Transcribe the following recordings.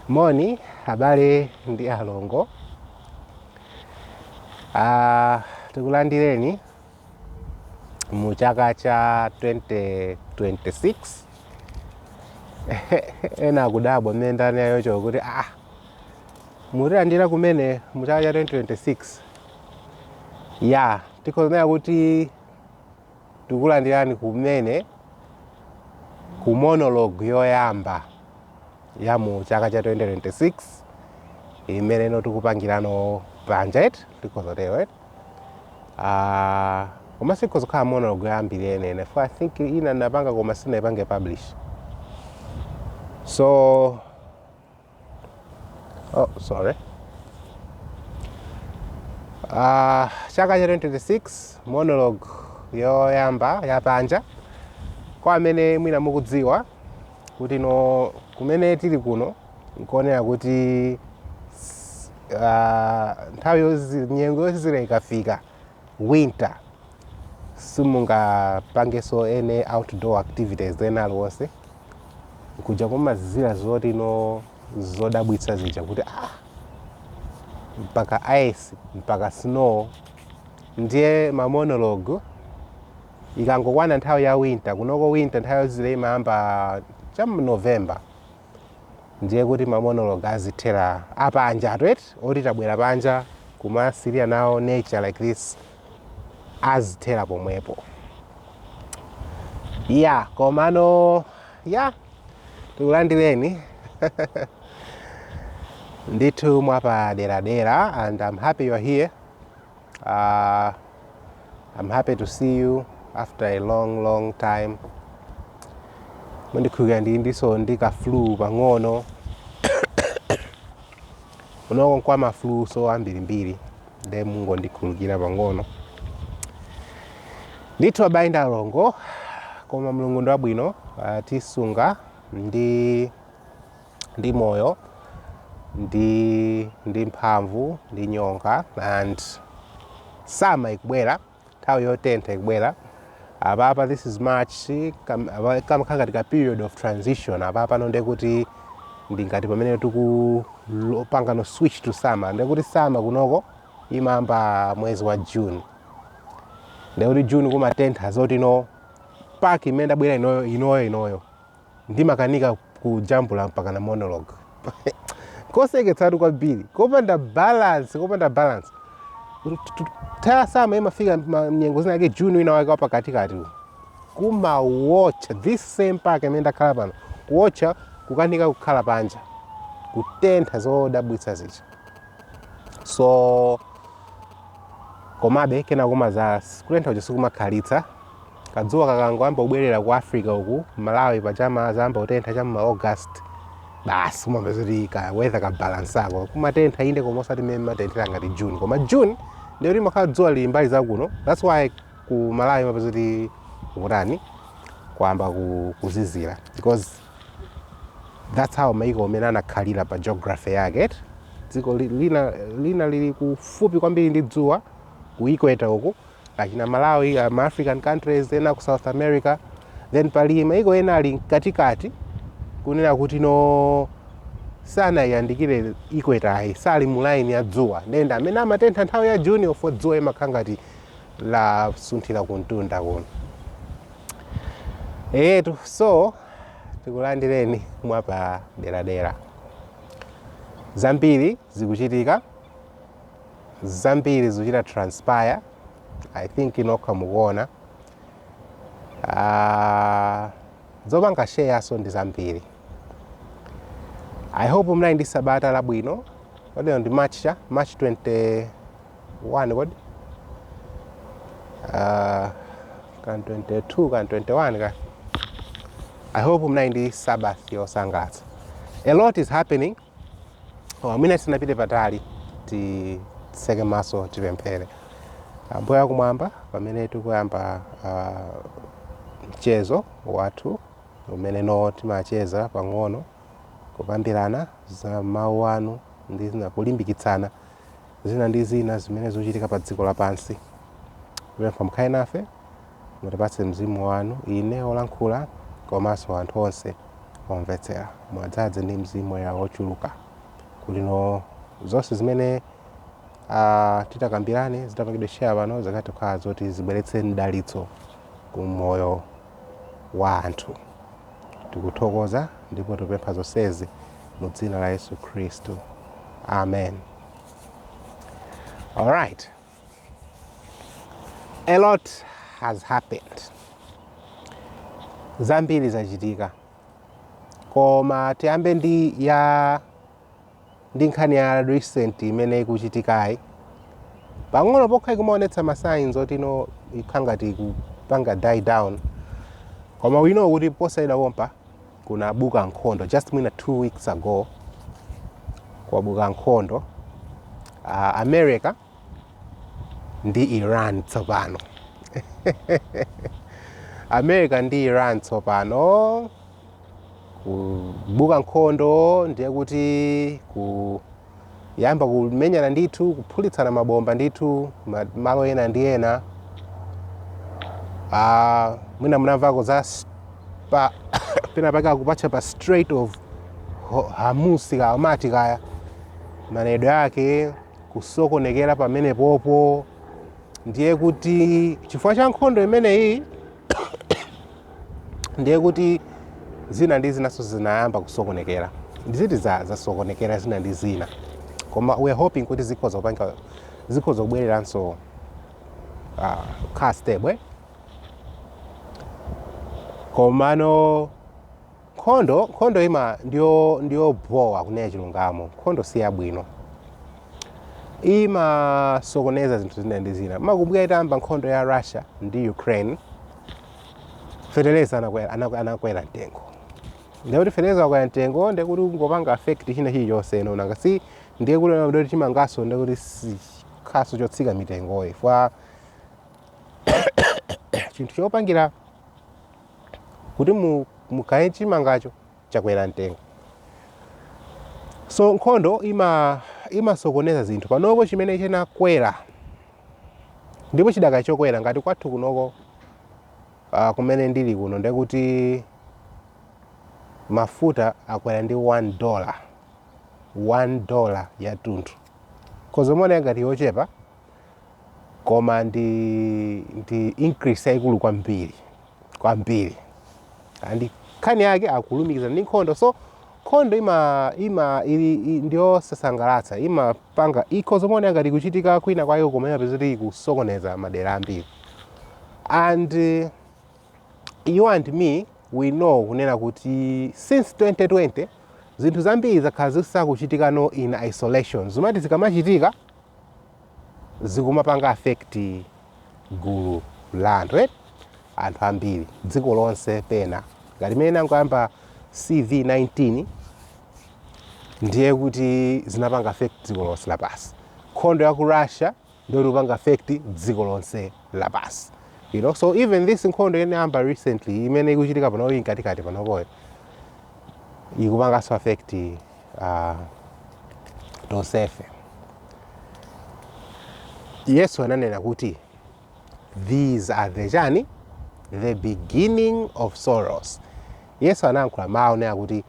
Moni abale ndi alongo. Ah, tikulandireni mu chaka cha 2026 ena akudabwa mmene ndanena choncho kuti ah mutilandira kumene mu chaka cha 2026 ya tikhoza kunena kuti Tikulandirani kumene ku monologue yoyamba ya mu chaka cha 2026 imene ino tikupangira ino panja eti tikhoza tero eti Ah, koma siikhoza kukhala monologue yoyambirira yeniyeni coz i think ina ndinapanga koma sindinaipange publish so Oh, sorry. Uh, chaka cha 2026 monologue yoyamba yapanja kwa amene mwina mukudziwa kuti kuno kumene tili kuno nkuonera kuti s- ah, nthawi yozi- nyengo yozizira ikafika winter simungapangenso any outdoor activities ena aliwonse kuja kumazizira zoti n'zodabwitsa zija kuti ah, mpaka ice mpaka snow ndiye mamonologue ikangokwana nthawi ya winter kunoko winter nthawi yozizira imayamba cha mu november ndiye kuti mamonolog azithera apanjatu eti oti tabwera panja kumasilira nawo nature like this azithera pomwepo ya komano ya tikulandireni ndithu mwapaderadera and I'm happy you're here Uh, I'm happy to see you after a long long time. Mundikhululukira ndilinso ndi ka flu pang'ono. Kunoko kwagwa ma flu so ambirimbiri. Nde mungondikhululukira pang'ono. Ndithu abale ndi alongo koma Mulungu ndi wabwino watisunga ndi ndi moyo ndi ndi mphamvu ndi nyonga and summer ikubwera nthawi yotentha ikubwera apapa this is march kamakhala ngati ka period of transition apapano ndekuti ndi ngati pamene tikupangano switch to summer ndekuti summer kunoko imayamba mwezi wa june ndekuti june kumatentha zoti no park imene ndabwera inoyo inoyo inoyo ndimakanika kujambula mpakana monologue koseketsatu kwambiri kopanda balance kopanda balance ta ya so imafika ma- nyengo zina yake juni wina wake wapakatikati uyu. kumawotcha this same park imene ndakhala pano kuwotcha kukanika kukhala panja kutentha zodabwitsa zija so komabe kena kumazakhala kutentha uja sikumakhalitsa Kadzuwa kakangoyamba kubwerera ku Africa uku, Malawi paja kumazayamba kutentha cha mma August, basi umapeza kuti ka weather kabalansako. Kumatentha inde koma osati mmene mmatenthera ngati June. Koma June ndiye kuti kumakhala dzuwa lili mbali za kuno. That's why ku Malawi umapeza kuti kutani kwayamba ku- kuzizira because that's how maiko mmene anakhalira pa geography yake eti. dziko li- lina, lina lili kufupi kwambiri ndi dzuwa ku equator uku achina malawi ma african countries ena ku south america then pali maiko ena ali mkatikati kunena kuti no sanayandikire equator yi sali mu line ya dzuwa ndiye ndi amene amatentha nthawi ya June-yo 'cause dzuwa limakhala ngati lasunthira kumtunda kuno eyetu so tikulandireni mwapaderadera zambiri zikuchitika zambiri zikuchita transpire i think inu nokha mukuona uh, zopanga share-nso ndi zambiri i hope mnali ndi sabata labwino lero ndi march cha march 21 kodi uh, kan 22 kan 21 ka i hope mnali ndi sabbath yosangalatsa a lot is happening Oh, mwina tisanapite patali titseke maso tipemphere. Ambuye akumwamba, pamene tikuyamba ah, mchezo wathu umene no timacheza pang'ono kukambirana za mawu anu ndi zina kulimbikitsana zina ndi zina zimene zikuchitika pa dziko lapansi. Tipempha mukhale nafe Mutipatse Mzimu wanu, ine wolankhula komanso anthu onse omvetsera. Muwadzadze ndi Mzimu Woyera wochuluka kuti no zonse zimene titakambirane zitapangidwe share pano zikathe kukhala zoti zibweretse mdalitso ku moyo wa anthu. Tikuthokoza ndipo tikupempha zonsezi mu dzina la Yesu Khristu. Amen. All right. A lot has happened. Zambiri zachitika. Koma tiyambe ndi ya ndi nkhani ya recent imene ikuchitikayi. Pang'ono pokha ikumaonetsa ma signs oti no ikhala ngati ikupanga die down. Koma we know kuti posachedwa pompa kunabuka nkhondo just mwina two weeks ago kwabuka nkhondo uh, america ndi iran tsopano america ndi iran tsopano kubuka nkhondo ndiye kuti ku kuyamba kumenyana ndithu kuphulitsana mabomba ndithu ma- malo ena ndi ena Ah, mwina munamvako za s- pa pena pake akupatchula pa strait of Ho- hormuz kaya amati kaya manenedwe ake kusokonekera pamenepopo ndiye kuti chifukwa cha nkhondo imeneyi ndiye kuti zina ndi zinanso zinayamba kusokonekera ndi zinthu za- zasokonekera zina ndi zina koma we are hoping kuti zikhoza kupanga zikhoza kubwereranso uh, kukhala stable eh? komano Nkhondo, nkhondo ima ndiyo ndiyobowa kunena chilungamo. Nkhondo si yabwino. Imasokoneza zinthu zina ndi zina. Mukakumbukira itayamba nkhondo ya Russia ndi Ukraine, feteleza anakwera anakwera, anakwera mtengo. Ndiye kuti feteleza wakwera mtengo ndiye kuti kungopanga affect china chilichonse ino nanga si ndiye kuti ndiye kuti chimanganso ndiye kuti si- chikhalanso chotsika mtengo ayi. Chifukwa chinthu chopangira kuti mugaye chimangacho chakwera mtengo so nkhondo ima imasokoneza zinthu panopo chimene chinakwera ndipo chidakali chokwera ngati kwathu kunoko uh, kumene ndili kuno ndiye kuti mafuta akwera ndi 1 dollar 1 dollar yathunthu ikhoza kumaoneka ngati yochepa koma ndi ndi increase yaikulu kwambiri kwambiri and nkhani yake akulumikizana ndi nkhondo so nkhondo ima ima ili i- ndiyosasangalatsa imapanga ikhoza kumaoneka ngati ikuchitika kwina kwake koma umapeza kuti ikusokoneza madera ambiri and eh, you and me we know kunena kuti since 2020 zinthu zambiri zakhala zisakuchitikano in isolation zomati zikamachitika zikumapanga affect gulu la anthu eti anthu ambiri dziko lonse pena ngati mmene inangoyamba cv19 ndiye kuti zinapanga affect dziko lonse lapansi nkhondo ya ku russia ndiyo ikupanga affect dziko lonse lapansi you know so even this nkhondo inayamba recently imene ikuchitika pano ili mkatikati panopoyo ikupanganso affect uh, tonsefe yesu ananena kuti these are the chani the beginning of sorrows yesu anayankhula mawu onena kuti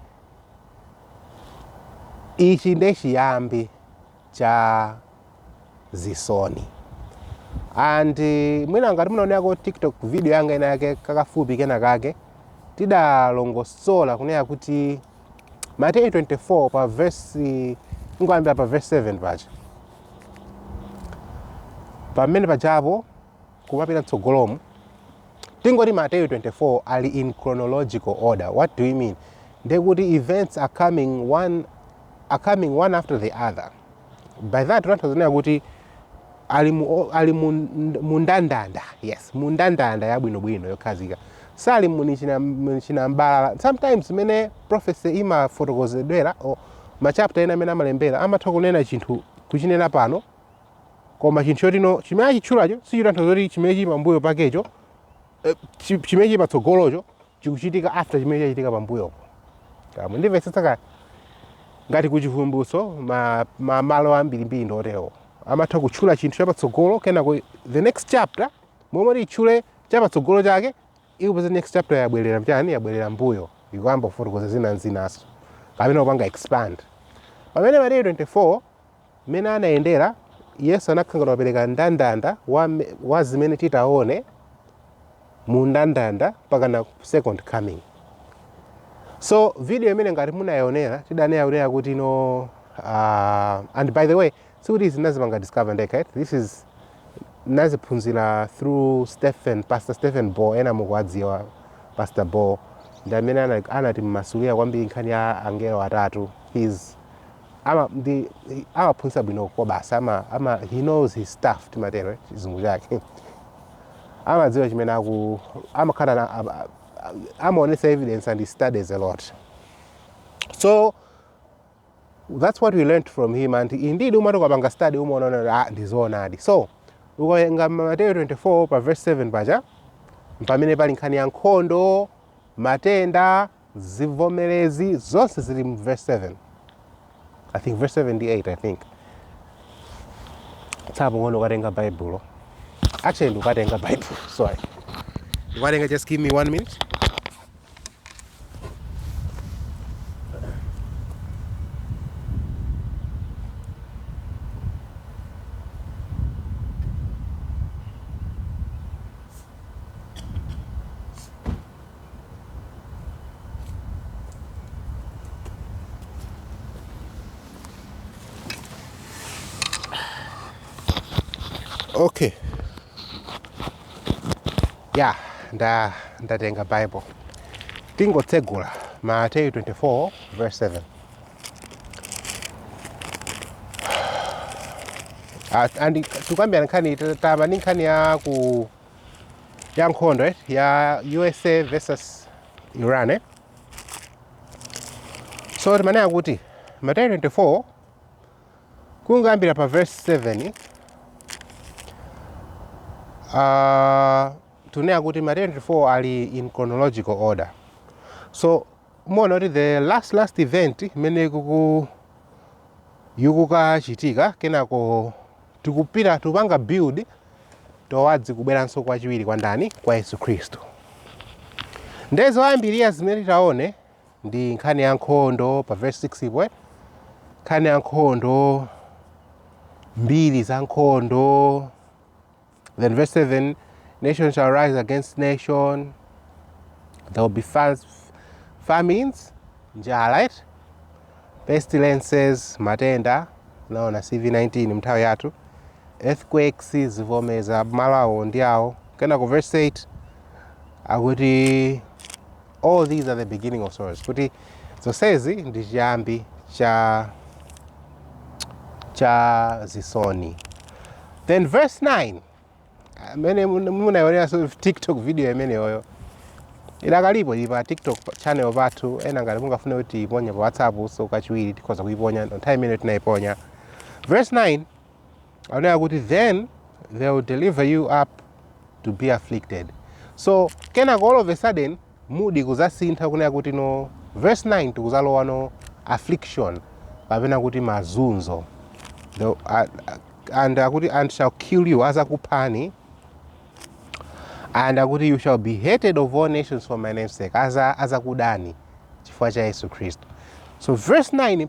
ichi nde chiyambi cha zisoni and mwina ngati munaonerako tiktok video yanga ina yake kakafupi kena kake tidalongosola kunena kuti mateyu 24 pa vesi kungoyambira pa vesi 7 paja pamene pajapo kumapita mtsogolomu tingoti mateyu 24 ali in chronological order what do you mean nde kuti events are coming one are coming one after the other by that ndikutanthauza kuti ali mu o- ali mu mu ndandanda yes mu ndandanda yabwinobwino yokhazika sali mu china- mwa chinambalala sometimes mmene prophecy imafotokozedwera o machapter ena mmene amalembera amatha kunena chinthu kuchinena pano koma chinthu choti no chimene achitchulacho sichitanthauza kuti chimene chili pambuyo pakecho eh, chi- chimene chili patsogolocho chikuchitika after chimene chachitika pambuyopo kaya mukundimvetsetsa kaya ngati kuchivumbutso ma, ma malo ambirimbiri ndi oterewo amatha kutchula chinthu chapatsogolo kenako the next chapter momwe atchule chapatsogolo chake ukupeza next chapter yabwerera m'chani yabwerera mbuyo ikuyamba kufotokoza zina ndi zinanso kapena kupanga expand pamene mateyu 24 Mmene anayendera, Yesu anakhala ngati wapereka ndandanda wa, wa zimene tidzaone mu ndandanda mpakana second coming so video imeneyo ngati munayionera tidanenera kuti no uh, and by the way sikuti izi nazipanga discover ndekha this is naziphunzira through stephen pastor stephen bohr ena mukuwadziwa pastor bohr ndi amene anandimasulira kwambiri nkhani ya angelo atatu his ama ndi he- amaphunzitsa bwino kobasa ama, ama he knows his stuff timatero eh, chizungu chake amadziwa chimene aku amakhala na- am- am- amaonesa evidence and he studies a lot so that's what we learned from him and indeed umati ukapanga study umaona kuti ah, ndizoonadi so ukawerenga mateyo 24 pa verse 7 paja mpamene pali nkhani ya nkhondo matenda zivomerezi zonse zili mu verse 7 i think verse 7 ndi 8 i think tsapano ndikukatenga baibulo actually ndikukatenga baibulo sorry ndikukatenga just give me one minute okay ya nda ndatenga bible tingotsegula mateyu 24 verse 7 Ah, and tukambirana nkhani ta- tayamba ndi nkhani ya ku ya nkhondo eh, ya usa versus iran eh. so timaneneka kuti mateyu 24 kuyambira pa verse 7 uh, tuneneka kuti mateyu 24 ali in chronological order so muona kuti the last last event imene kuku ikukachitika kenako tikupita tikupanga build towards kubweranso kwachiwiri kwa ndani kwa yesu khristu nde zoyambirira zimene titaone ndi nkhani ya nkhondo pa verse 6 ipo eh? nkhani ya nkhondo mbiri za nkhondo Then verse 7 Nation shall rise against nation, there will be famines, njala, right? pestilences, matenda, tinaona CV19 nthawi yathu, earthquakes zivomezi malo awo ndi awo. Kenako verse 8 akuti All these are the beginning of sorrows. Kuti zonsezi ndi chiyambi cha cha zisoni. Then verse 9. Amene munaioneranso TikTok video imeneyoyo. Idakalipo ili pa TikTok pa- channel pathu koma ngati mungafune kuti tiiponye pa WhatsApp nso kachiwiri tikhoza kuiponya nthawi imeneyo tinaiponya. Verse 9. akunena kuti then they will deliver you up to be afflicted so kenako all of a sudden mood ikuzasintha kunena kuti no verse 9 tikuzalowano affliction kapena kuti mazunzo the, uh, and akuti and shall kill you azakuphani and akuti you shall be hated of all nations for my name's sake aza azakudani chifukwa cha yesu khristu so verse 9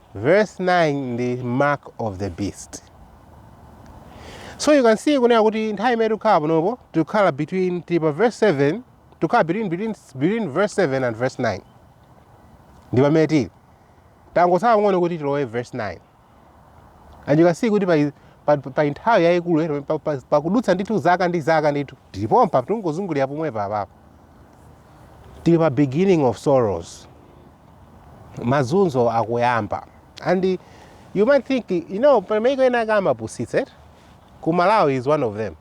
Verse 9 ndi mark of the beast. So you can see kunena kuti nthawi imene tikukhala panopo tikukhala between tili pa verse 7 tikukhala between, between, between verse 7 and verse 9 ndi pamene tili tangotsala pang'ono kuti tilowe verse 9 and you can see kuti pa, pa, pa nthawi yayikulu eh, pa- pa- pakudutsa ndithu zaka ndi zaka ndithu tili pompa tikungozungulira pomwe papapo tili pa beginning of sorrows mazunzo akuyamba and you might think you know pali maiko ena ake amapusitsa eti ku malawi is one of them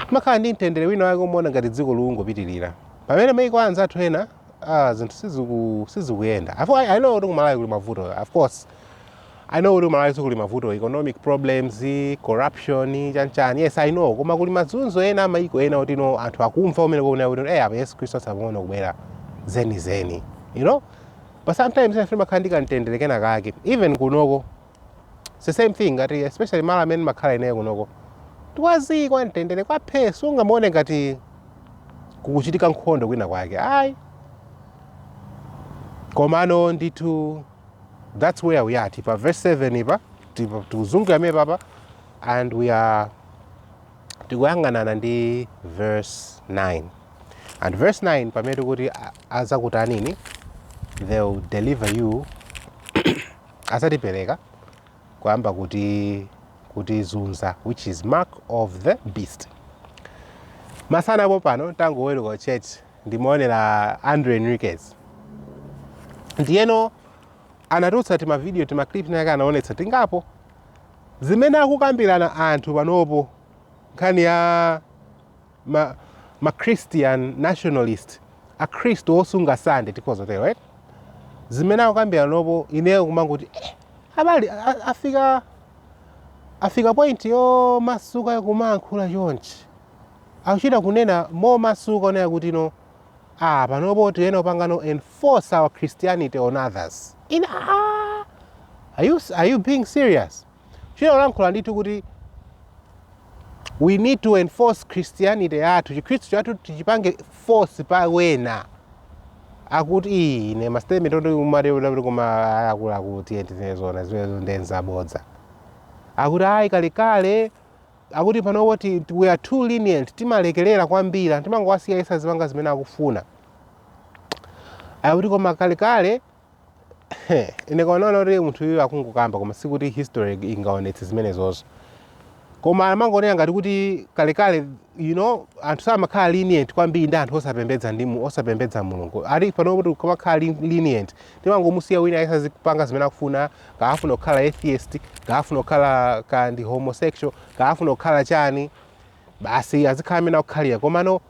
mumakhala ndi mtendere wina wake umaona ngati dziko likungopitirira pamene maiko anzathu ena ah, zinthu siziku- sizikuyenda Afo- i I know kuti ku malawi kuli mavuto of course i know kuti ku malawi kuli mavuto economic problems corruption chanchani yes i know koma kuli mazunzo ena amayiko ena kuti no anthu akumva umene kuonera kuti eh apa yesu khristu watsala pang'ono kubwera zeni zeni you know but sometimes ife timakhala ndi kamtendere kena kake even kunoko it's the same thing ngati especially mala amene makhala ineyo kunoko kuli zii kwa mtendere kwa phe sungamaone ngati kukuchitika nkhondo kwina kwake ayi komano ndithu That's where we are. Tipa verse 7 ipa, tipa tuzungu ya mepa pa, and we are tikuyanganana ndi verse 9. And verse 9 pa metu kuti aza kutanini, they'll deliver you, aza tipeleka, kwa amba kuti, kuti zunza, which is mark of the beast. Masana po pano, tangu welu kwa church, ndimaonera Andrew Henriques ndiyeno anatulutsa timavidiyo timaclip tinatake anaonetsa tingapo zimene akukambirana anthu panopo nkhani ya ma, ma christian nationalist akhristu osunga sande tikhoza tero right? zimene akukambirana panopo ineyo kumangoti eh, abale a- a- afika afika point yomasuka kumayankhula chonchi Akuchita kunena momasuka kunena kuti no aah panopo tiyenera kupangano enforce our Christianity on others. Ine aah are you are you being serious? Kuchita kulankhula ndithu kuti we need to enforce Christianity yathu, chikhristu chathu tichipange force pa wena. Akuti ii ine ma statement oti umati kuti koma akuluakulu tiye tinene zoona zimenezo ndi nzabodza. Akuti ayi kalekale Akuti panopo ti, we are too lenient, timalekelera kwambiri anthu timangowasiya yense azipanga zimene akufuna. Akuti koma kalekale ine kaonaona kuti munthu uyu akungokamba koma sikuti history ingaonetse zimenezozo. Koma amangonena ngati kuti kalekale you know anthu samakhala lenient kwambiri ndi anthu osapembedza ndi mu- osapembedza Mulungu. Ati panopo tikumakhala lenient timangomusiya wina yense azipanga zimene akufuna kaya afuna kukhala atheist kaya afuna kukhala kaya ndi homosexual kaya afuna kukhala chani basi azikhala mmene akukhalira komano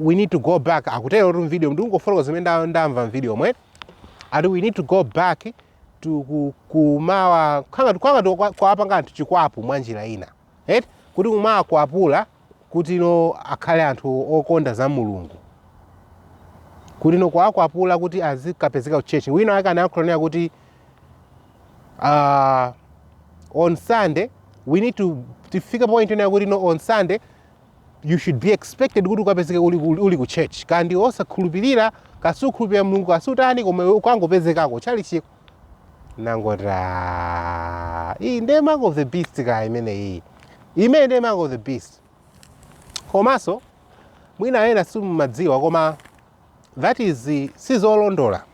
we need to go back akutero tu mvideo ndikungofoloka zimene nda- ndamva mvideomo ati we need to go back to ku- kumawa ngati kuwapanga anthu chikwapu mwa njira ina Eti kuti kumawakwapula kuti no akhale anthu okonda za Mulungu, kuti no kuwakwapula kuti azikapezeka ku church. Wina wake anayankhula nena kuti uh, on Sunday we need to tifike point nena kuti no on Sunday you should be expected kuti ukapezeke uli, uli, uli ku church kaya ndi osakhulupirira kaya sukhulupirira Mulungu kaya sutani koma ukangopezekako tchalitchiko nangoti "Ah, iyi ndiye mark of the beast kaya imeneyi imene ndiye mark of the beast komanso mwina ena simumadziwa koma that is eh, sizolondola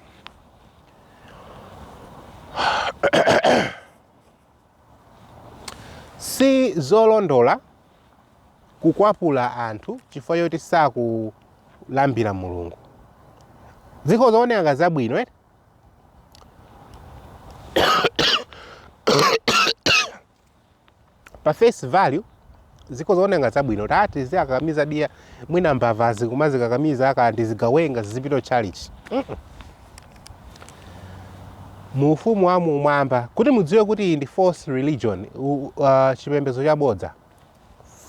sizolondola kukwapula anthu chifukwa choti sakulambira mulungu zikhoza kuoneka ngati zabwino eti pa face value zikhoza kuoneka ngati zabwino tatiziwakakamiza ndiye mwina mbavazi kumazikakamiza kaya ndi zigawenga zizipita tchalitchi mu ufumu wa kumwamba kuti mudziwe kuti iyi ndi false religion u- uh, chipembedzo chabodza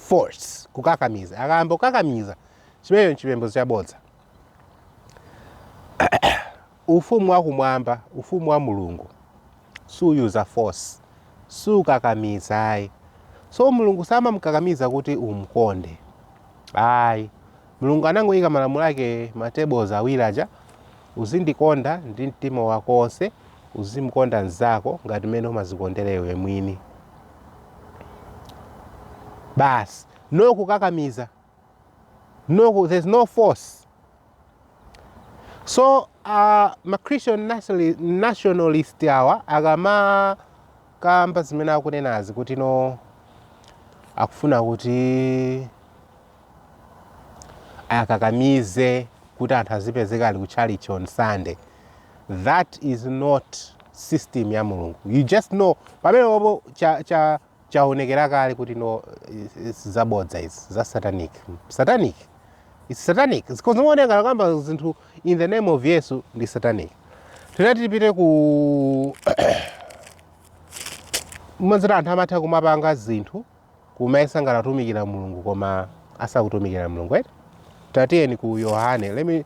force kukakamiza akayamba kukakamiza chimenecho ndi chipembedzo chabodza Ufumu wakumwamba, Ufumu wa Mulungu, suyuza force, sukakamiza ayi. So Mulungu samakukakamiza kuti umkonde ayi. Mulungu anangoyika malamulo ake ma tables awiri aja, uzindikonda ndi mtima wako wonse, uzimkonda mnzako ngati mmene umazikondera iwe mwini. Basi, no kukakamiza. no, there's no force so uh, ma christian nationali- nationalist awa akamakamba zimene akunenazi kuti no akufuna kuti akakamize kuti anthu azipezeka ali ku church on sunday that is not system ya mulungu you just know pamenepopo cha, cha chaonekera kale kuti no it's zabodza izi za satanic satanic it's satanic zikhoza kuoneka ngati akukamba zinthu in the name of yesu ndi satanic tinati tipite ku mazira anthu amatha kumapanga zinthu kumayesa ngati akutumikira mulungu koma asakutumikira mulungu eti tatiyeni ku yohane let me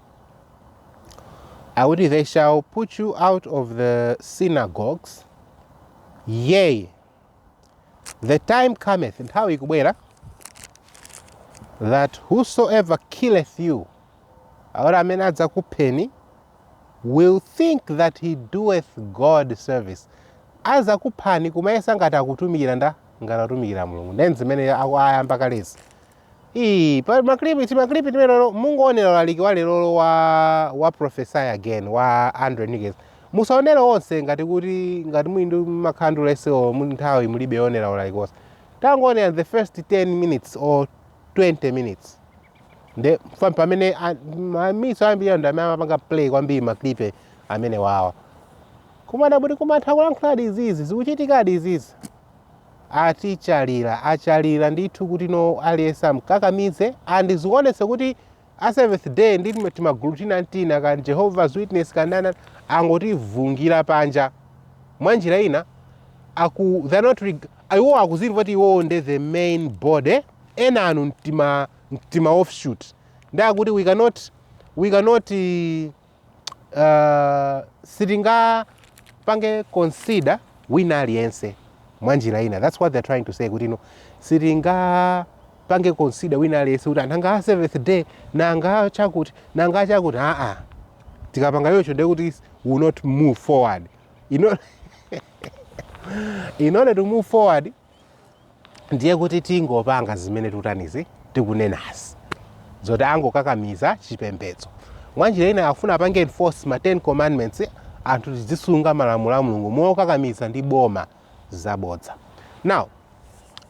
Akuti they shall put you out of the synagogues yea the time cometh nthawi ikubwera that whosoever killeth you akuti amene adzakupheni will think that he doeth god service azakuphani kumayesa ngati akutumikira nda ngati akutumikira mulungu nde ndi zimene aku- ayamba kalezi Ii, pa maklipi timaklipi timeneto mungoonera ulaliki wa lerolo wa wa prophesy again wa andrew henriques musaonere onse ngati kuti ngati muli ndi makhala ndi ulesi o muli nthawi mulibe yoonera ulaliki wonse tangoonera the first 10 minutes or 20 minutes nde fa- pamene a- ma- miso ambiri ndi amene amapanga play kwambiri maklipi amenewawa kumada kuti kumatha kulankhuladi izizi zikuchitikadi izizi atichalira achalira ndithu kuti no aliyense amkakamize and zionetse kuti a seventh day ndi tima- timagulu tina ntina ka jehovah's witness kandana angotivungira panja mwa njira ina aku they're not reg- iwo akuzimva kuti iwo nde the main body enanu ntima ntima offshoot nde akuti we cannot we cannot eh, uh, sitingapange consider wina aliyense mwa njira ina that's what they're trying to say kuti no sitingapange consider wina aliyense kuti anthu anga a seventh day nanga chakuti nanga chakuti aa tikapanga choncho ndiye kuti we'll not move forward in order, in order to move forward ndiye kuti tingopanga zimene tikutanizi tikunenazi zoti angokakamiza chipembedzo mwanjira ina akufuna apange enforce ma 10 commandments anthu tizisunga malamulo a mulungu mokakamiza ndi boma zabodza now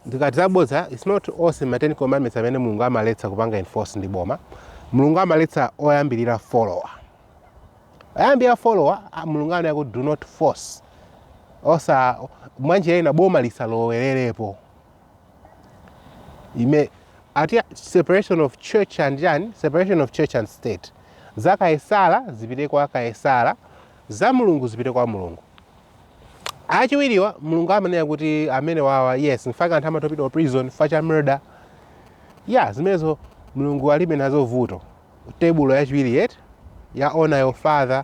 ndikati zabodza its not onse ma 10 commandments amene mulungu amaletsa kupanga enforce ndi boma mulungu amaletsa oyambirira folowa oyambirira folowa mulungu amanena kuti do not force osa mwanjira ina boma lisalowererepo imene amati separation of church and chani separation of church and state za kaesala zipite kwa kaesala za mulungu zipite kwa mulungu achiwiriwa mulungu amanena kuti amenewawa yes nchifukwa chake anthu amatha kupita ku prison chifukwa cha murder ya zimenezo mulungu alibe nazo vuto tebulo yachiwiri eti ya honor your father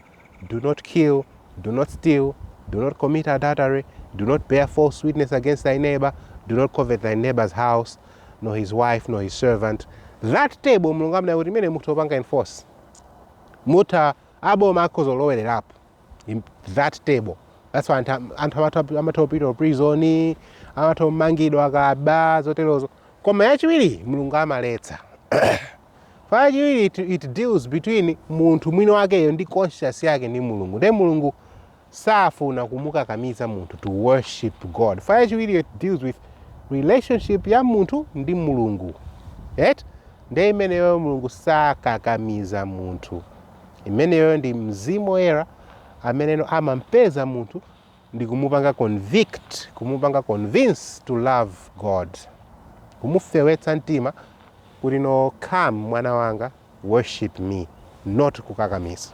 do not kill do not steal do not commit adultery do not bear false witness against thy neighbor do not covet thy neighbor's house nor his wife nor his servant that table mulungu amanena kuti imene mutha kupanga enforce mutha aboma akhoza kulowererapo in that table that's why anthu am- anthu amatha- amatha kupita ku prison amatha kumangidwa akaba zoterozo koma yachiwiri mulungu amaletsa Pachiwiri it, it deals between munthu mwini wakeyo ndi conscience yake ndi Mulungu. Ndiye Mulungu safuna kumukakamiza munthu to worship God. Fa yachiwiri it deals with relationship ya munthu ndi Mulungu. Right? Ndiye imeneyo Mulungu sakakamiza munthu. Imeneyo ndi mzimu woyera amene amampeza munthu ndi kumupanga convict, kumupanga convince to love God, kumufewetsa mtima kuti no come mwana wanga worship me not kukakamiza.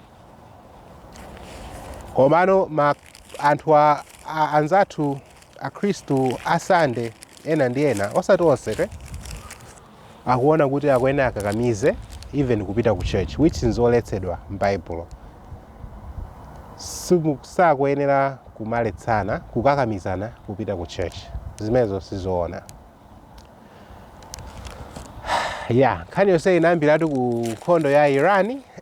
Komano ma anthu a, a, anzathu akhristu a Sunday ena ndi ena osati onse te akuona kuti akuyenera akakamize even kupita ku church which nzoletsedwa mbaibulo. Simu, sakuyenera kumaletsana, kukakamizana kupita ku church. Zimenezo sizoona. Ya, nkhani yonse inayambiratu ku nkhondo ya Iran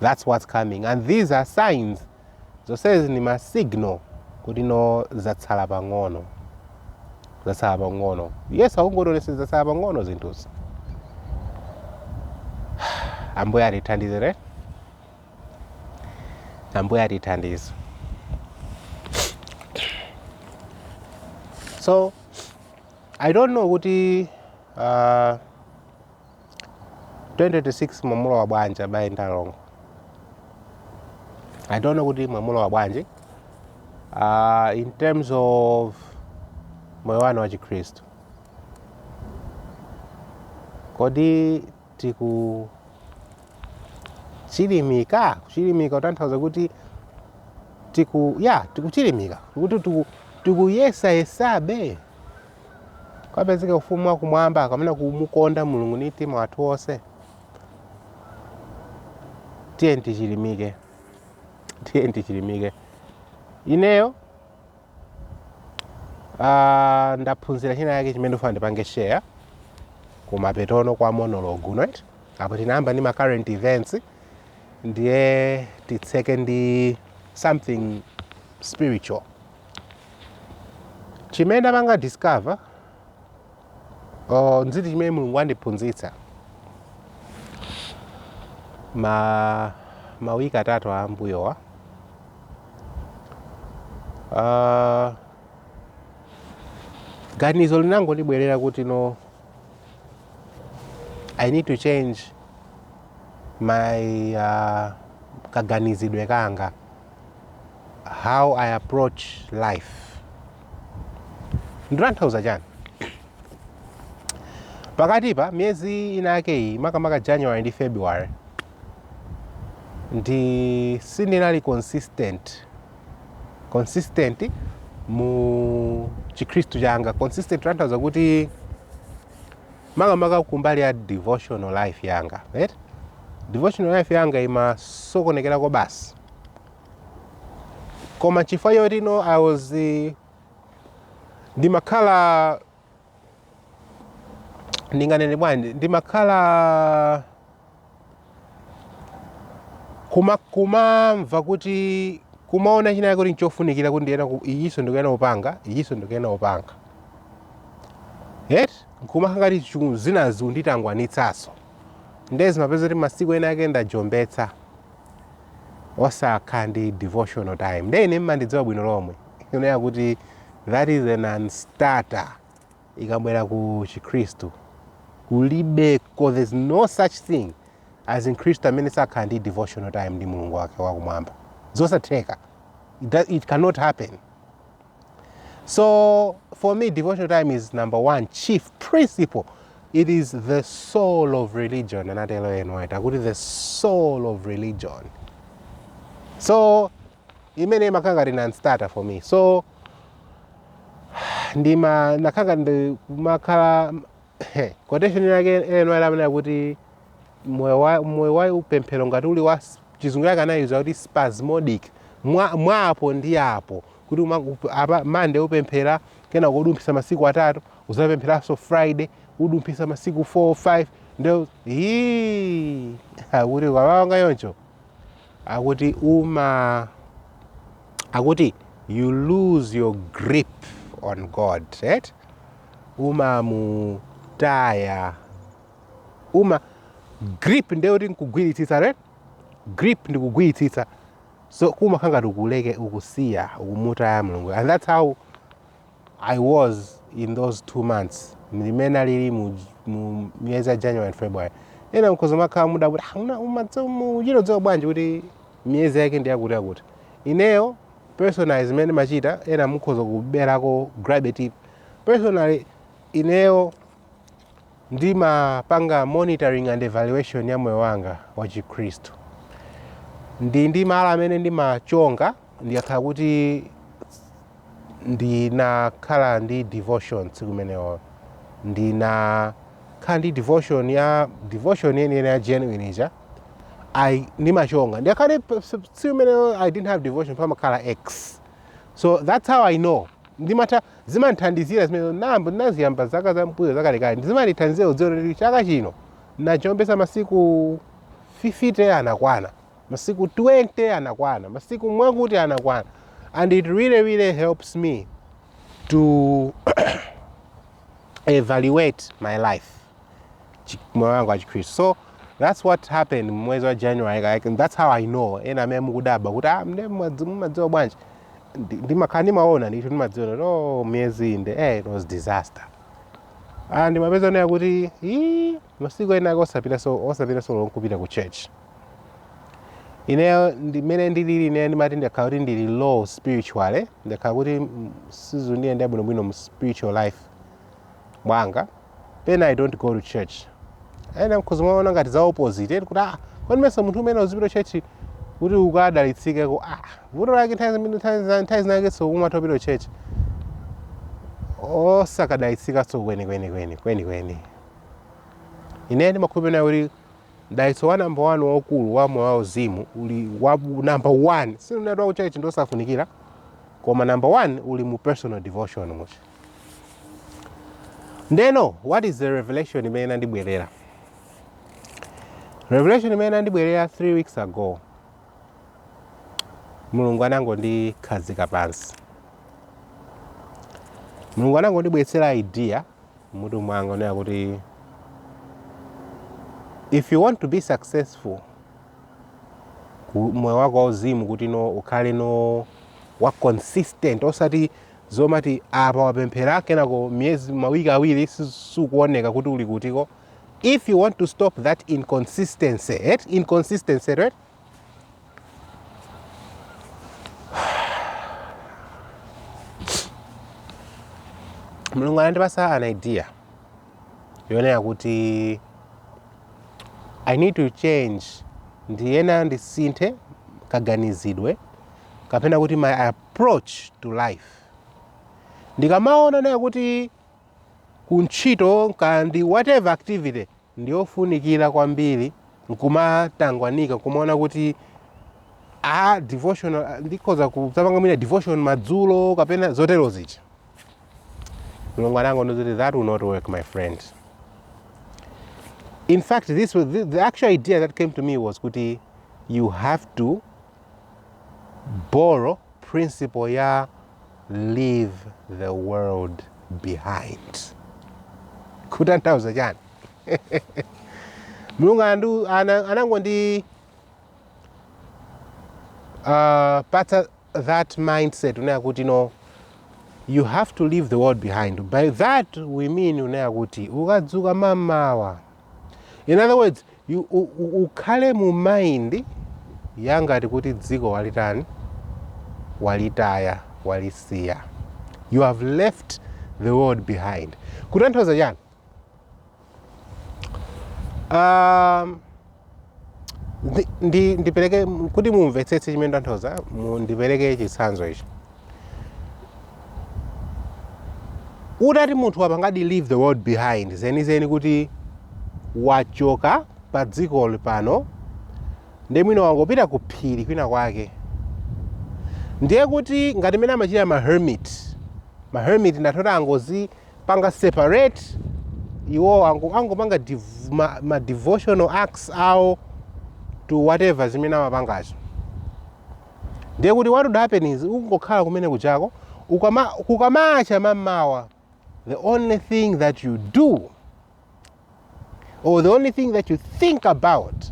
that's what's coming and these are signs zonsezi ndi ma signal kuti no zatsala pang'ono zatsala pang'ono yesu akungotionetsa zatsala pang'ono zinthuzi ambuye atithandize right ambuye atithandize so i don't know kuti uh, 2026 mwamulowa bwanji abale ndi alongo i don't know kuti mwamulowa bwanji uh, in terms of moyo wanu wa chikhristu kodi tiku chilimika kuchilimika kutanthauza kuti tiku ya tikuchilimika kuti tiku- tikuyesayesabe kapezeke ku ufumu wa kumwamba kapena kumukonda mulungu ndi mtima wathu wonse tiyeni tichilimike tiyeni tichilimike ineyo uh, ndaphunzira china yake chimene ndifuna ndipange share kumapetono kwa monologue uno eti apo tinayamba ndi ma current events ndiye titseke ndi something spiritual Chimene ndapanga discover or nziti chimene Mulungu andiphunzitsa ma mawiki atatu a mbuyowa uh, ganizo linangondibwerera kuti no I need to change my uh, kaganizidwe kanga how i approach life ndikutanthauza chiyani pakatipa miyezi ina yake iyi makamaka january ndi february ndi sindinali consistent consistent mu chikhristu changa consistent tanthauza kuti makamaka kumbali ya devotional life yanga right? devotional life yanga imasokonekera kobasi koma chifukwa choti no i was eh, ndimakhala ndinganene bwanji ndimakhala kuma kumamva kuti kumaona china kuti nchofunikira kuti ndiyenera ku- ichinso ndikuyenera kupanga ichinso ndikuyenera kupanga eti nkumakhala ngati chu- zinazi zikunditangwanitsaso nde zimapezeka kuti masiku ena ake ndajombetsa osakhala ndi devotional time nde ine ndimadziwa bwino lomwe kunena kuti that is a non-starter ikabwera ku chikhristu kulibeko there's no such thing as mkhristu amene sakhala ndi devotional time ndi mulungu wake wakumwamba zosatheka it, does- it cannot happen So for me, devotional time is number one chief principle. It is the soul of religion. And I tell you, NY, what is the soul of religion? So, imene imakanga ndi non-starter for me. So, ndima nakanga ndi kumakhala Quotation ina yake ina imanena kuti moyo wa moyo wa upemphero ngati uli wa s- chizungu chake anaika kuti spasmodic mwa mwa apo ndi apo kuti uma- up- apa monday upemphera kena kudumphisa masiku atatu uzapempheranso friday kudumphisa masiku 4 5 ndio hii akuti kumapanga choncho akuti uma akuti you lose your grip on god right? umamutaya uma grip ndiye kuti nkugwiritsitsa right grip ndi kugwiritsitsa so kumakhala ngati ukuleke ukusiya ukumutaya mulungu and that's how i was in those two months ndi mmene ndinalili mu, mu miyezi ya january and february ena mukhoza kumakhala mukudabwa kuti "Ah, una- umadza- mu- ukuchita kudziwa bwanji kuti miyezi yake ndi yakuti yakuti ineyo personally zimene ndimachita ena mukhoza kuberako grab a tip Personally, ineyo ndimapanga monitoring and evaluation ya moyo wanga wa Chikhristu. Ndili ndi malo amene ndimachonga ndikakhala kuti ndinakhala ndi devotion tsiku limenelo. Ndinakhala ndi devotion ya devotion yeniyeni ya genuine ija. I ndimachonga. Ndikakhala kuti tsiku limenelo I didn't have devotion pamakhala X. So that's how I know ndimatha zimandithandizira zimene nanga ndinaziyamba zaka za mbuyo zakalekale ndizimandithandizira kudziwa kuti chaka chino najombesa masiku 50 anakwana masiku 20 anakwana masiku mwakuti anakwana and it really really helps me to evaluate my life moyo wanga wa chikhristu so that's what happened mwezi wa january like, and that's how i know ena amene mukudabwa kuti ah, mne mwadzi- mumadziwa bwanji Ndi- ndimakhala ndimaona ndithu ndimadziwa kuti oh miyezi inde eh, it was disaster ah, ndimapeza onena kuti "Ii, masiku ena ake osapita so osapita so long kupita ku church ineyo ndimene ndilili ineyo ndimati ndakhala kuti ndili low spiritually ndakhala kuti mm, sizikundiyendera bwinobwino mu spiritual life mwanga pena i don't go to church ena mukhoza kuona ngati za opposite eti kuti ah kodi mesa munthu umayenera uzipita church kuti ukadalitsikeko ah vuto lake nthawi zambiri nthawi zina- nthawi zinakenso umatha upita church osakadalitsikanso kwenikweni kweni kwenikweni ine ndimakhulupirira kuti dalitso wa namba 1 waukulu wa moyo wauzimu uli wa namba 1 sinunati wakuchurch ndi osafunikira koma namba 1 uli mu personal devotion mucha ndeno what is the revelation imene inandibwerera revelation imene inandibwerera 3 weeks ago mulungu anangondikhazika pansi mulungu anangondibweretsera idea m'mutu mwanga onena kuti if you want to be successful ku- moyo wako wauzimu kuti no ukhale no wa consistent osati zomati apa wapemphera kenako miyezi mawiki awiri si- sukuoneka kuti uli kutiko. If you want to stop that inconsistency eti? inconsistency right? mulungu anandipasa an idea yonena kuti i need to change ndiyenera ndisinthe kaganizidwe kapena kuti my, ap- proach to life ndikamaona ineyo kuti kuntchito kaya ndi whatever activity ndiyofunikira kwambiri nkumatangwanika kumaona kuti a devotional ndikhoza kudzapanga mwina devotion madzulo kapena zotero zija mulungu anangonena kuti that will not work my friend in fact this was the, the actual idea that came to me was kuti you have to Borrow principle ya leave the world behind. Kutanthauza chani? Mulungu andu- ana- anangondi uh, patsa that mindset kunena kuti no you have to leave the world behind by that we mean kunena kuti ukadzuka mmamawa In other words, you, u, u, ukhale mu mind yangati kuti dziko walitani walitaya walisiya you have left the world behind kutanthauza chani um, Ndi- ndi- ndipereke kuti mumvetsetse chimene ndikutanthauza mu- ndipereke chitsanzo ichi utati munthu wapangadi leave the world behind zenizeni kuti wachoka pa dzikoli pano ndiye mwina wangopita ku phiri kwina kwake ndiye kuti ngati mmene amachitira ma hermit ma hermit amatha kungozi panga separate iwo ango- angopanga div- ma, ma devotional acts awo to whatever zimene amapangazo ndiye kuti what would happen is ukangokhala kumene kujako ukama, kukamacha mmamawa the only thing that you do or the only thing that you think about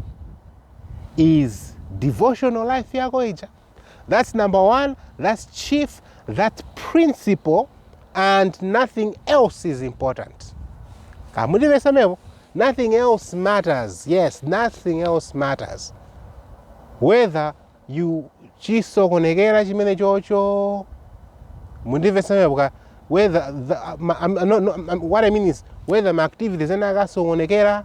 is devotional life yako ija That's number one, that's chief, that's principle, and nothing else is important. Nothing else matters. Yes, nothing else matters. Whether you chisokonekera chimene chocho mundimvesamebuka whether the, um, um, no, no, um, what i mean is whether my activities ena akasokonekera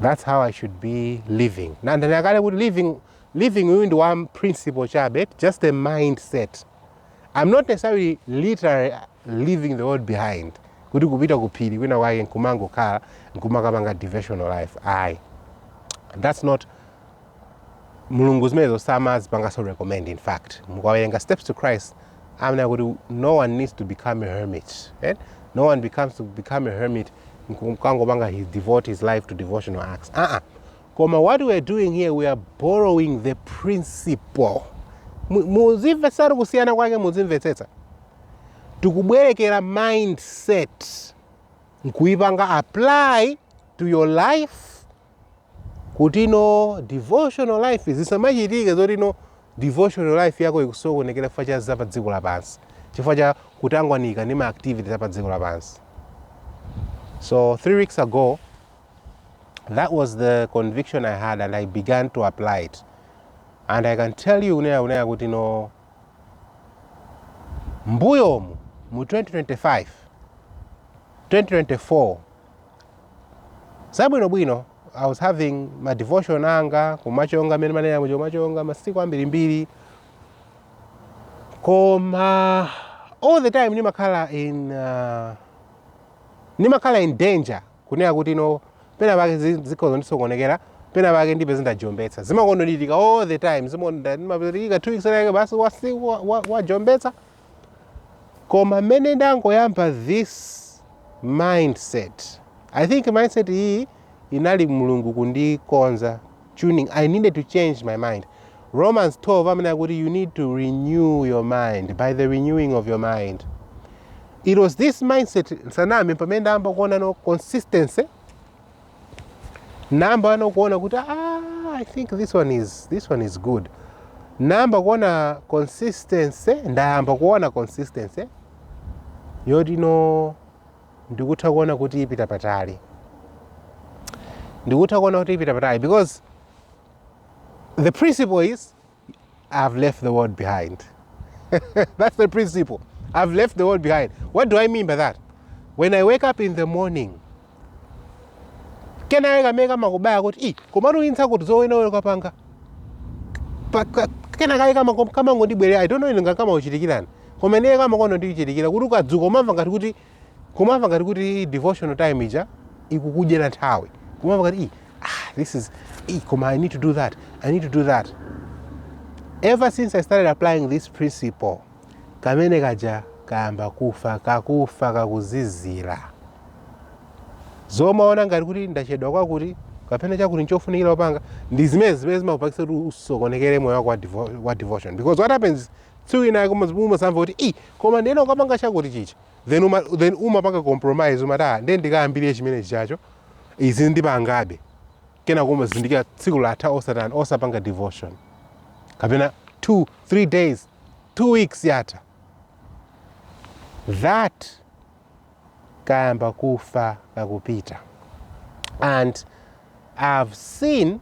That's how I should be living. Nandani akale kuti leaving leaving uyu ndi one principle chabe, just a mindset. I'm not necessarily literally leaving the world behind. Kuti kupita kuphiri kwina kwake nkumangokhala nkumakapanga devotional life. Ayi. That's not mulungu zimenezo samazipangaso recommend in fact mukawerenga steps to christ amanena kuti no one needs to become a hermit right? no one becomes to become a hermit nkukangopanga his devote his life to devotional acts uh -uh. koma what we are doing here we are borrowing the principle Mu- muzimvetsetu kusiyana kwake muzimvetsetsa tikubwerekera mindset nkuyipanga apply to your life kuti no devotional life zisamachitike zoti no devotional life yako ikusokonekera chifukwa cha za pa dziko lapansi chifukwa cha kutangwanika ndi ma activities apa dziko lapansi so three weeks ago that was the conviction i had and i began to apply it and i can tell you kunena kunena kuti no mbuyomu mu 2025 2024 zabwino bwino i was having ma devotion anga ndimachonga mmene ndimanena muja kumachonga masiku ambirimbiri koma all the time ndimakhala in uh, ndimakhala in danger kunena kuti no pena pake zi- zikhoza kundisokonekera pena pake ndipo ndizajombetsa zimakonda kuchitika all the time zimakonda kuchitika two weeks lake basi wasi- wa- wa- wajombetsa wa koma mmene ndangoyamba this mindset i think mindset iyi inali mulungu kundikonza tuning i needed to change my mind romans 12 imene ikuti you need to renew your mind by the renewing of your mind it was this mindset nsaname pamene ndayamba kuona ano consistency ndayamba ano kuona kuti ah, i think this one is, this one is good ndayamba kuona consistency ndayamba kuona consistency yoti no ndikutha kuona kuti ipita patali ndikutha kuona kuti ipita patali because the principle is I've left the world behind. That's the principle. I've left the world behind. What do I mean by that? When I wake up in the morning, kenaka kamene kamakubaya kuti i komatu uyenera kuti uwene ukapanga Pa- ka- kenaka ayi kama- kamangondibwerera i don't know inu ngati kamakuchitikirani koma ineyo kamakonda kundichitikira kuti ukadzuka umamva ngati kuti kumamva ngati kuti devotional time ija ikukudyera nthawi kumamva ngati "Ih, ah, this is ih, koma i need to do that i need to do that ever since i started applying this principle kamene kaja kayamba kufa kakufa kakuzizira zomamva ngati kuti ndachedwa chakuti kapena chakuti nchofunikira kupanga ndi zimene zimene zimakupangitsa kuti usokonekere moyo wako wa devo- wa devotion because what happens tsiku lina koma umazamva kuti i koma ndiyenera kukapanga chakuti chija then uma, then umapanga compromise umati ah ndiye ndikayambire chimene chichacho izi ndipangabe kenako umazindikira tsiku latha osatani osapanga devotion kapena 2 3 days 2 weeks yatha that kayamba kufa kakupita and i've seen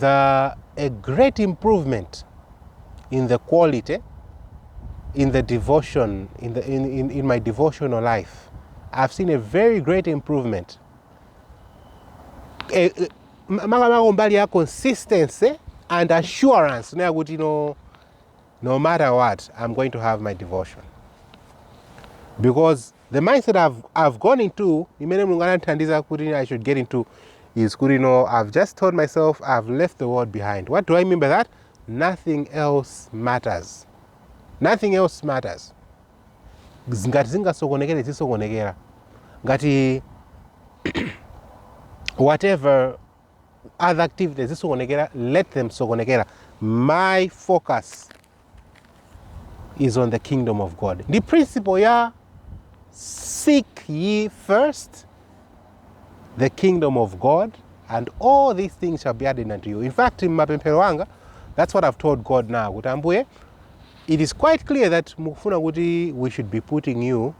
the a great improvement in the quality in the devotion in, the, in, in, in my devotional life i've seen a very great improvement Eh, eh, ma- makamaka mbali ya consistency and assurance nayakuti no no matter what am going to have my devotion because the mindset i've, I've gone into imene mulungu anandithandiza kuti i should get into is kuti you know, i've just told myself i've left the world behind what do i mean by that nothing else matters nothing else matters ngati zingasokonekere zisokonekera ngati whatever other activities zisokonekera let them sokonekera my focus is on the kingdom of god ndi principle ya seek ye first the kingdom of god and all these things shall be added unto you in fact mmapemphero anga that's what i've told god now kuti ambuye it is quite clear that mukufuna kuti we should be putting you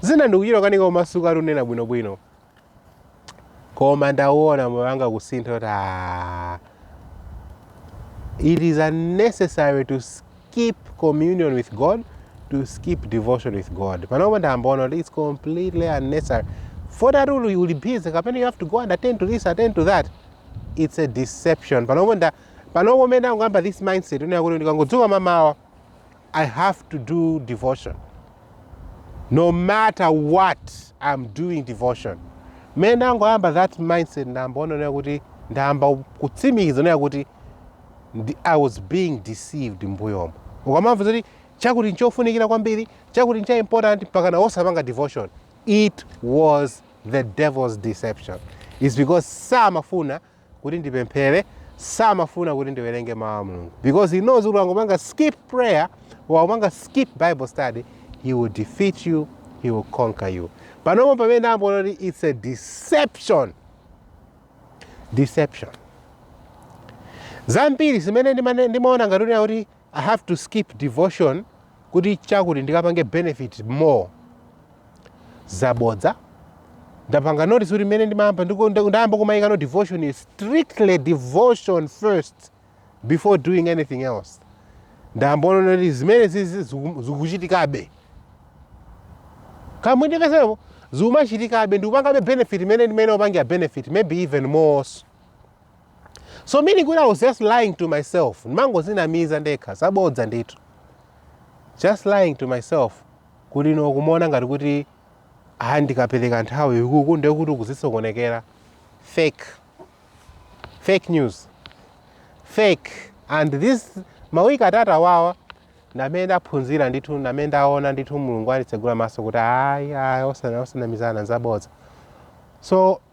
zina ndikuchita kukanika kumasuka kunena bwinobwino koma ndaona moyo wanga kusintha kuti "Ah, it is unnecessary to skip communion with god to skip devotion with god panopo ndaona kuti it's completely unnecessary zoti ati uli uli busy kapena you have to go and attend to this attend to that it's a deception panopo nda panopo mene ndangoyamba this mindset kunena kuti ndikangodzuka mamawa I have to do devotion no matter what I'm doing devotion. Mmene ndangoyamba that mindset ndayamba kuona kuti ndayamba kutsimikiza kuona kuti ndi- I was being deceived mbuyomo. Ukamamva zoti chakuti nchofunikira kwambiri, chakuti ncha important mpaka na osapanga devotion. It was the devil's deception. It's because samafuna kuti ndipemphere samafuna kuti ndiwerenge mawu a mulungu because he knows kuti ukangopanga skip prayer ukangopanga skip bible study he will defeat you he will conquer you panopo pamene ndayamba kuona kuti it's a deception deception zambiri zimene ndimane- ndimaona ngati kuti kuti I have to skip devotion kuti chakuti ndikapange benefit more zabodza ndapanga notice kuti mmene ndimayamba ndiku- nda- ndayamba kumayikano devotion is strictly devotion first before doing anything else ndayamba kuona kuti zimene zi- zi- ziku- zikuchitikabe kamwe ndikasepo zikumachitikabe ndikupangabe benefit mmene ndimene ndimapangira benefit maybe even more also so meaning kuti i was just lying to myself ndimangozinamiza ndekha zabodza ndithu just lying to myself kuti no kumaona ngati kuti ah ndikapereka nthawi ikuku ndiye kuti uku zisokonekera fake fake news fake and this mawiki atatu awawa ndamene ndaphunzira ndithu ndamene ndaona ndithu mulungu wanditsegula maso kuti ayi ayi osana- osanamizana nzabodza so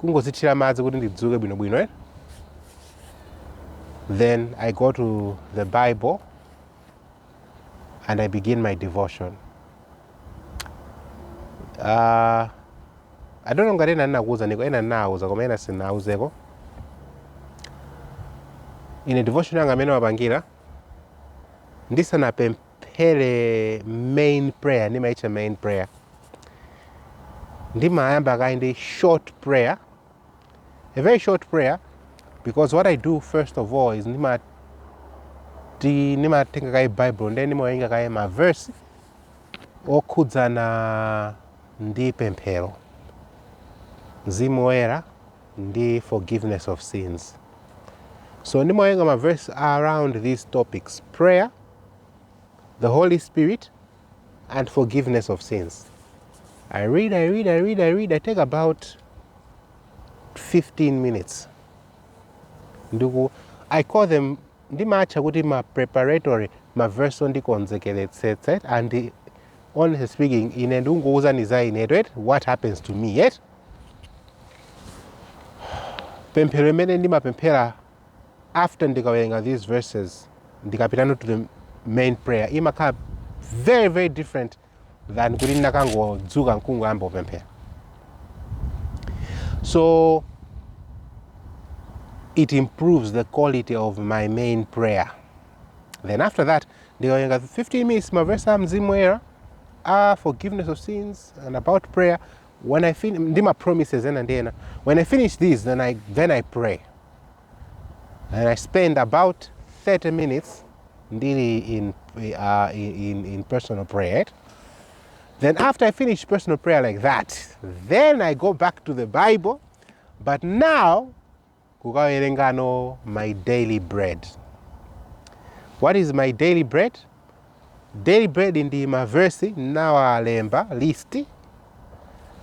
kungodzithira madzi kuti ndidzuke bwinobwino eh? then i go to the bible and i begin my devotion uh, i don't know ngati ena ndinakuuzaniko ena ndinawuza koma ena sinauzeko ine devotion yanga mmene ndimapangira ndisanapem- phere main prayer ndimaitcha main prayer ndimayamba kaye ndi short prayer a very short prayer because what i do first of all is ndima- ndimatenga kaye bible ndiye ndimawerenga kaye ma verse okhudzana ndi pemphero mzimu woyera ndi forgiveness of sins so ndimawerenga ma verse around these topics prayer the Holy Spirit, and forgiveness of sins. I read, I read, I read, I read. I take about 15 minutes. Ndugu, I call them ndimatcha kuti ma preparatory ma verse ondikonzekeretsetsa and honestly speaking ine ndikungowuzani za ine right what happens to me yet pemphero imene ndimapemphera after ndikawerenga these verses ndikapitano to the main prayer imakhala very very different than kuti ndinakangodzuka nkungoyamba kupemphera so it improves the quality of my main prayer then after that ndikawerenga 15 minutes mavesi a mzimu woyera a forgiveness of sins and about prayer when I fin ndi ma promises ena ndi ena when I finish these then I, then I pray and I spend about 30 minutes ndili in, uh, in, in personal prayer then after I finish personal prayer like that then I go back to the Bible but now kukawerenga no my daily bread what is my daily bread daily bread ndi maversi ndinawalemba list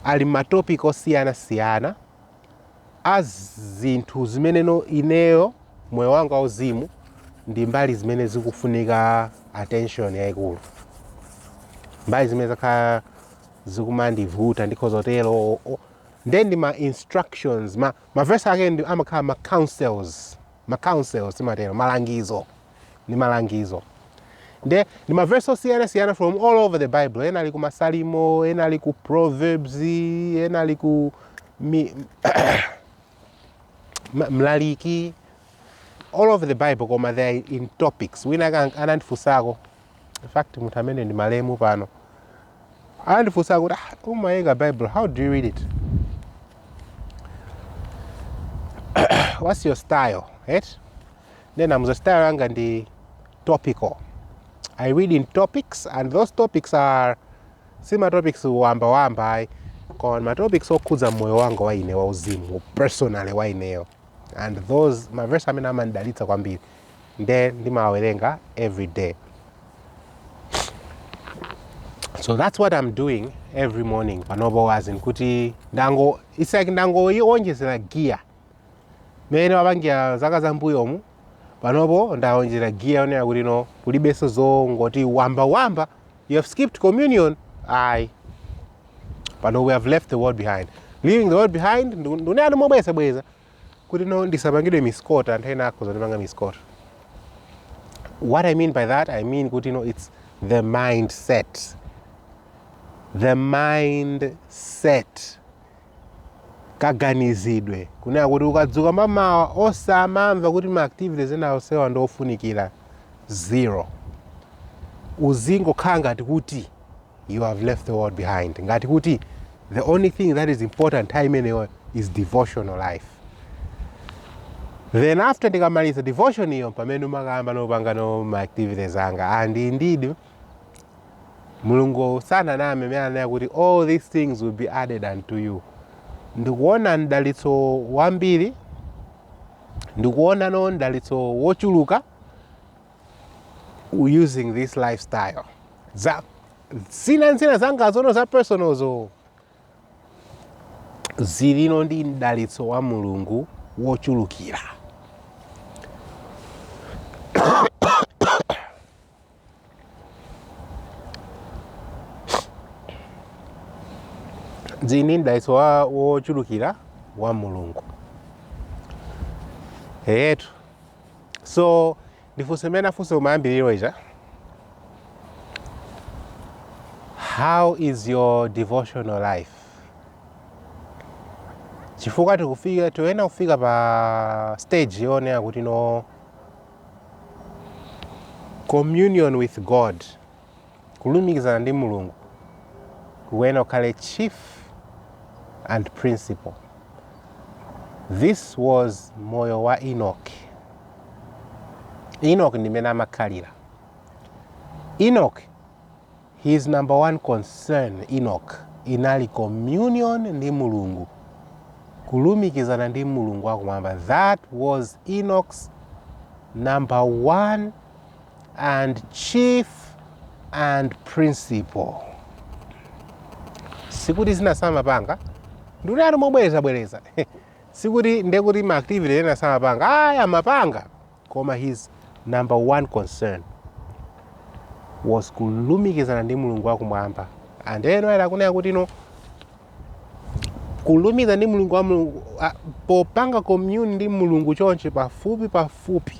ali m'matopic osiyanasiyana a zinthu zimene ineyo moyo wanga wauzimu ndi mbali zimene zikufunika attention yayikulu mbali zimene zakhala zikumandivuta ndikhoza kutero o- o- nde ndi ma instructions ma, Ma verse ake ndi amakhala ma counsels, ma counsels timatero, malangizo, ndi malangizo. Nde ndi ma verse osiyana siyana from all over the bible, ena ali ku masalimo, ena ali ku proverbs, ena ali ku mi, ma- mlaliki, all over the bible koma they are in topics. Wina a- anandifunsako in fact munthu amene ndi malemu pano anandifunsa kuti ah, umawerenga bible how do you read it what's your style right? nde ndinamuuza style yanga ndi topical i read in topics and those topics are si matopics wamba wamba ayi koma matopics okhudza moyo wanga wa ine wauzimu personally wa ineyo and those ndi mavesi amene amandidalitsa kwambiri nde ndimawerenga everyday so that's what i'm doing every morning panopo basi nkuti ndango it's like ndangoiwonjezera giya mmene ndapangira zaka za mbuyomu panopo ndawonjezera giya kunena kuti no kulibenso zongoti wamba wamba you have skipped communion ayi pano we have left the world behind leaving the world behind ndikunena mobwerezabwereza kuti no ndisapangidwe misquote anthu ena akhoza kundipanga misquote what i mean by that i mean kuti no its the mindset the mindset kaganizidwe kunena kuti ukadzuka m'mamawa osamamva kuti ma activities ena onsewa ndi ofunikira uzingokhala ngati kuti you have left the world behind ngati kuti the only thing that is important nthawi imeneyo is devotional life then after ndikamaliza devotion ndiye pamene ndimakayamba no kupanga no ma activities anga and indeed mulungu sananame amene ananena kuti all these things will be added unto you ndikuona mdalitso wambiri ndikuona no mdalitso wochuluka using this lifestyle za zina nzina zangazo za personalzo zilino ndi mdalitso wa mulungu wochulukira zili ndi mdalitso wa- wochulukira wa mulungu eyetu so ndifunse mmene ndinafunsa kumayambiriro kuja how is your devotional life chifukwa tikufika tikuyenera kufika pa stage yonena kuti no communion with god kulumikizana ndi mulungu kukuyenera kukhala chief and principal this was moyo wa enoch enoch ndi mene amakhalira enoch his number one concern enoch inali communion ndi mulungu kulumikizana ndi mulungu wakumwamba that was enoch's number one and chief and principal sikuti zina samapanga ndinati mobwerezabwereza sikuti ndekuti ma activity ena samapanga aya amapanga koma his number one concern was kulumikizana ndi mulungu wakumwamba and inu muona kunena kuti no kulumikiza ndi mulungu wa mulungu a- popanga commune ndi mulungu chonchi pafupi pafupi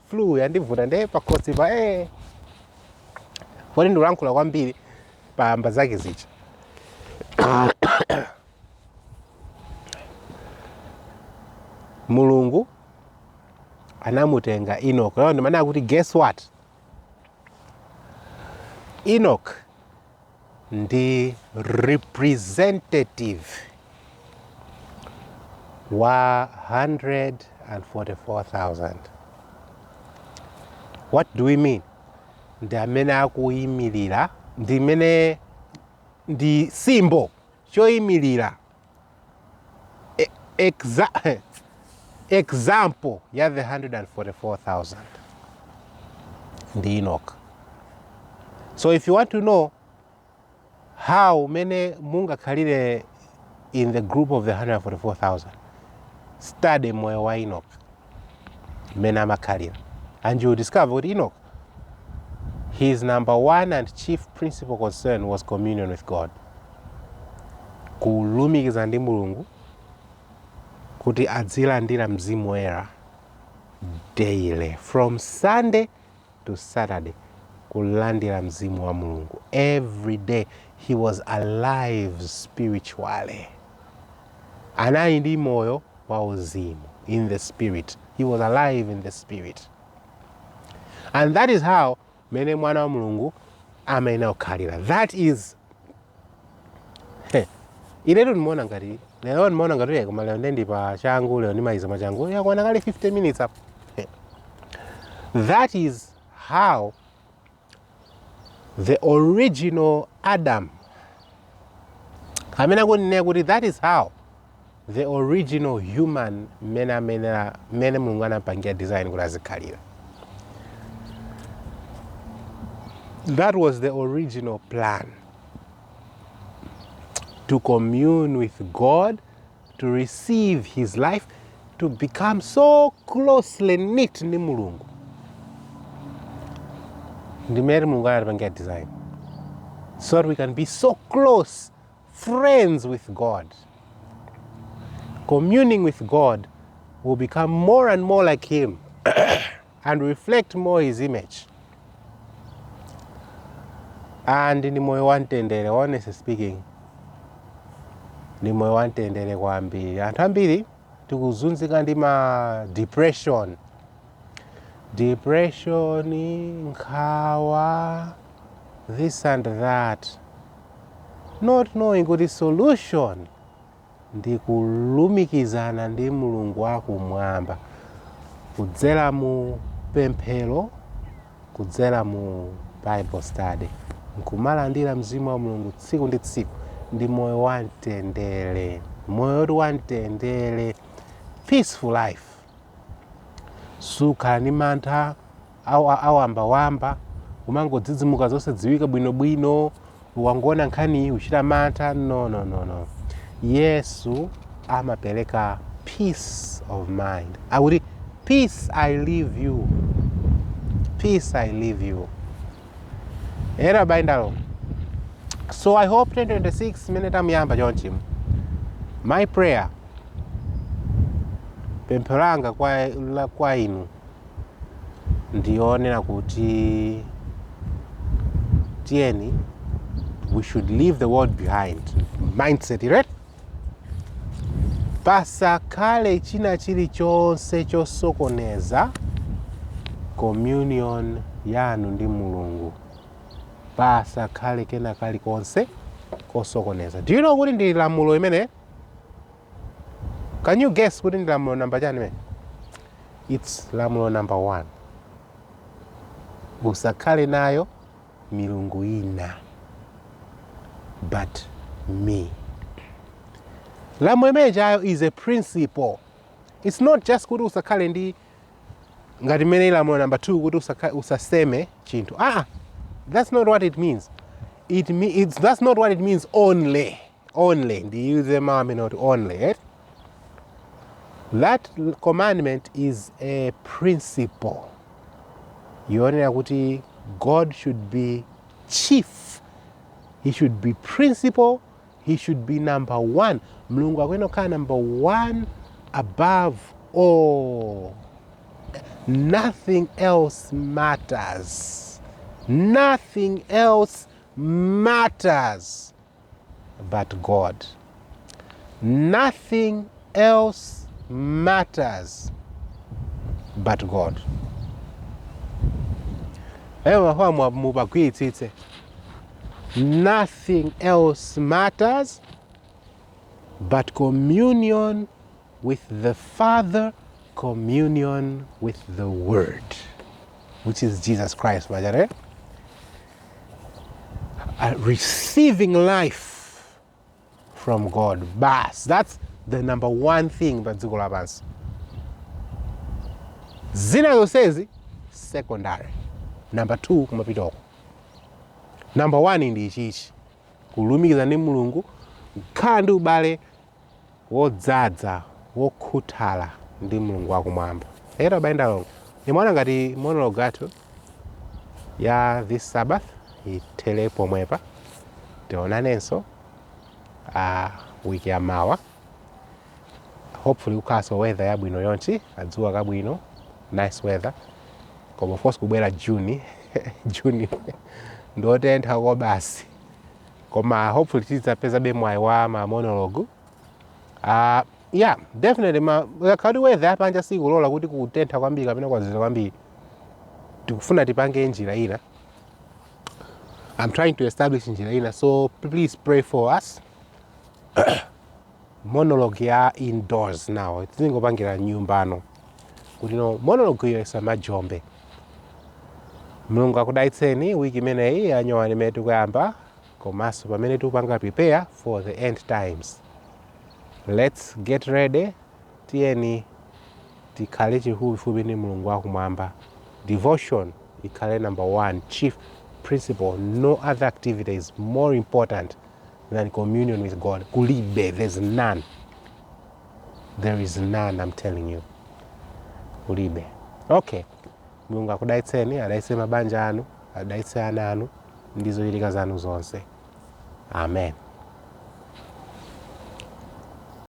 flu yandivuta nde pakhosipa eh. poti ndikulankhula kwambiri pamapeto pake paja mulungu anamutenga enoch lero ndimene akuti guess what enoch ndi representative wa 144,000 what do we mean ndi amene akuyimirira ndi amene ndi symbol choyimirira E- exa- example ya the 144,000 ndi enoch so if you want to know how umene mungakhalire in the group of the 144,000 study moyo wa enoch mmene amakhalira and you will discover kuti enoch his number one and chief principal concern was communion with god kulumikiza ndi mulungu kuti adzilandira mzimu woyera daily from sunday to Saturday kulandira mzimu wa Mulungu every day he was alive spiritually anali ndi moyo wa uzimu in the spirit he was alive in the spirit and that is how mene mwana wa Mulungu amayenera kukhalira that is Hey, inetu ndimaona ngati lero ndimaona ngati yeye koma lero ndili pa changu lero ndimaliza mwachangu yakwana kale 50 minutes apa Hey. that is how the original adam amene akunenera kuti that is how the original human mmene amenera mmene mulungu anapangira design kuti azikhalira that was the original plan to commune with god to receive his life to become so closely knit ndi mulungu ndi mmene mulungu anapangira design so that we can be so close friends with God. Communing with God will become more and more like Him and reflect more His image. And ni moyo wantendere, honestly speaking, ni moyo wantendere kwambiri. Anthu ambiri tikuzunzika ndi ma depression, depression, nkhawa, this and that. not knowing kuti solution ndi kulumikizana ndi mulungu wakumwamba kudzera mu pemphero kudzera mu bible study nkumalandira mzimu wa mulungu tsiku ndi tsiku ndi moyo wamtendere moyo woti wa mtendere peaceful life sukhala ndi mantha awambawamba kumangodzidzimuka zosadziwika bwinobwino ukangoona nkhani iyi uchita mantha no no no no yesu amapereka peace of mind akuti peace i leave you peace i leave you ena abale ndi alongo so i hope 2026 imene tamuyamba chonchi my prayer pemphero langa kwa, la- kwa inu ndi yonena kuti tiyeni we should leave the world behind mindset right pasakhale china chilichonse chosokoneza communion yanu ndi mulungu pasakhale kena kalikonse kosokoneza do you know kuti ndi lamulo imene Can you guess kuti ndi lamulo namba chani eee? It's lamulo namba 1. Usakhale nayo milungu ina but me. Lamulo limenelo is a principle. It's not just kuti usakhale ndi ngati mmene lamulo namba 2 kuti usakha- usaseme chinthu. Ah, that's not what it means. It me, it's, that's not what it means only. only ndiyuze mawu amene oti only eh? that commandment is a principle yonena kuti god should be chief he should be principal he should be number one mulungu akuyenera kukhala number one above all nothing else matters nothing else matters but God. Nothing else matters but God. Ewe mafamu mubagwiritsitse. Nothing else matters but communion with the father communion with the word which is jesus christ uh, receiving life from god basi that's the number one thing pa dziko lapansi zina zonsezi secondary number two kumapita uko number one ndi ichichi kulumikiza ndi mulungu kukhala ndi ubale wodzadza, wokhuthala ndi Mulungu wa Kumwamba. Eya abale ndi alongo, ndimaona ngati monologue yathu ya this Sabbath ithere pomwepa. Tionanenso a wiki ya mawa. Hopefully kukhalanso weather yabwino chonchi, kadzuwa kabwino, nice weather. Koma of course kubwera June, June ndiotentha kobasi. koma hopefully tidzapezabe mwayi wa ma monologue uh, yeah definitely ngakhale kuti weather yapanja sikulola kuti kwatentha kwambiri kapena kwazizira kwambiri tikufuna tipange njira ina i'm trying to establish njira ina so please pray for us monologue ya indoors now tingopangira m'nyumba muno kuti monologue iyo isamajombe mulungu akudalitseni wiki imeneyi yanyowani imene tikuyamba komanso pamene tikupanga prepare for the end times let's get ready tiyeni tikhale chifupifupi ndi mulungu wakumwamba devotion ikhale number one chief principle no other activity is more important than communion with God. Kulibe, there's none. There is none, I'm telling you. Kulibe. Okay. Mulungu akudalitseni, adalitse mabanja anu, adalitse ana anu, ndi zochitika zanu zonse. Amen.